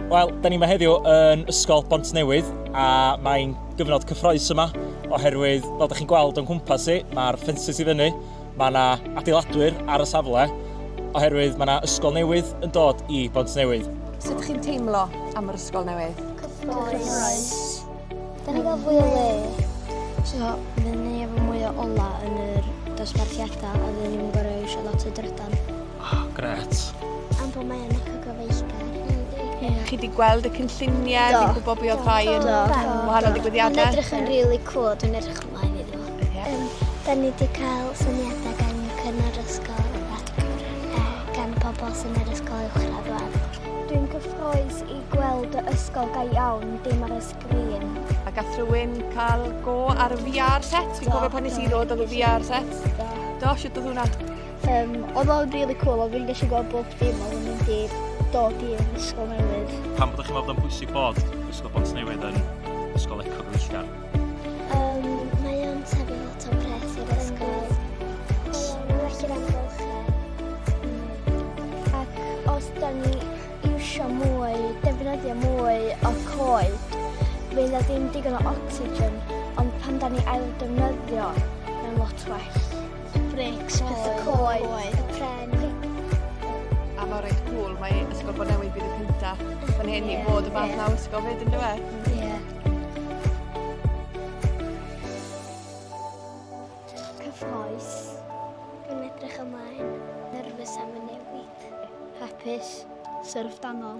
Wel, da ni yma heddiw yn Ysgol Bontnewydd a mae'n gyfnod cyffroes yma oherwydd, fel da chi'n gweld o'n cwmpas i, mae'r ffensys i fyny, mae yna adeiladwyr ar y safle oherwydd mae yna ysgol newydd yn dod i Bontnewydd. Sut chi'n teimlo am yr ysgol newydd? Cyffroes. Da ni gael fwy o le. So, fydden ni efo mwy o ola yn yr dosbarthiadau a fydden ni'n gorau eisiau lot o drydan. Oh, gret. Am bod mae yna cygofaethgar. Ie. Chi wedi gweld y cynlluniau, chi'n gwybod beth oedd rhai yn wahanol digwyddiadau? Mae'n edrych yn rili really cool, dwi'n edrych ymlaen iddo. Yeah. Um, da ni wedi cael syniadau gan y cynnar ysgol a gan pobl sy'n yr ysgol uwchradd wad. Dwi'n cyffroes i gweld y ysgol ga iawn, dim ar y sgrin. A gath rhywun cael go ar y VR set? Fi'n cofio pan nes i ddod oedd y VR set. Do, siwt oedd hwnna? Um, oedd o'n really cool, oedd fi'n gallu gweld bob dim oedd yn mynd i dod i yn ysgol newydd. Pam bod chi'n meddwl bod o'n bwysig bod ysgol Bont Newydd yn ysgol eco gyfeillgar? Um, mae o'n tebyg lot o pres i'r ysgol. Mae'n well i'r amgylchedd. Ac os da ni eisiau mwy, defnyddio mwy o coed, fydd na ddim digon o oxygen, ond pan da ni ail defnyddio, mae'n lot well. Brics, pethau coed, pren. A mae reit cwl, mae Ysgol Bôn Newydd bydd y cynta fan hyn i fod y fath na ysgol fyd yndyw e? Ie. Cyffroes. Dwi'n edrych ymlaen. Nerfus am y newid. Hapus. Syrfdanol.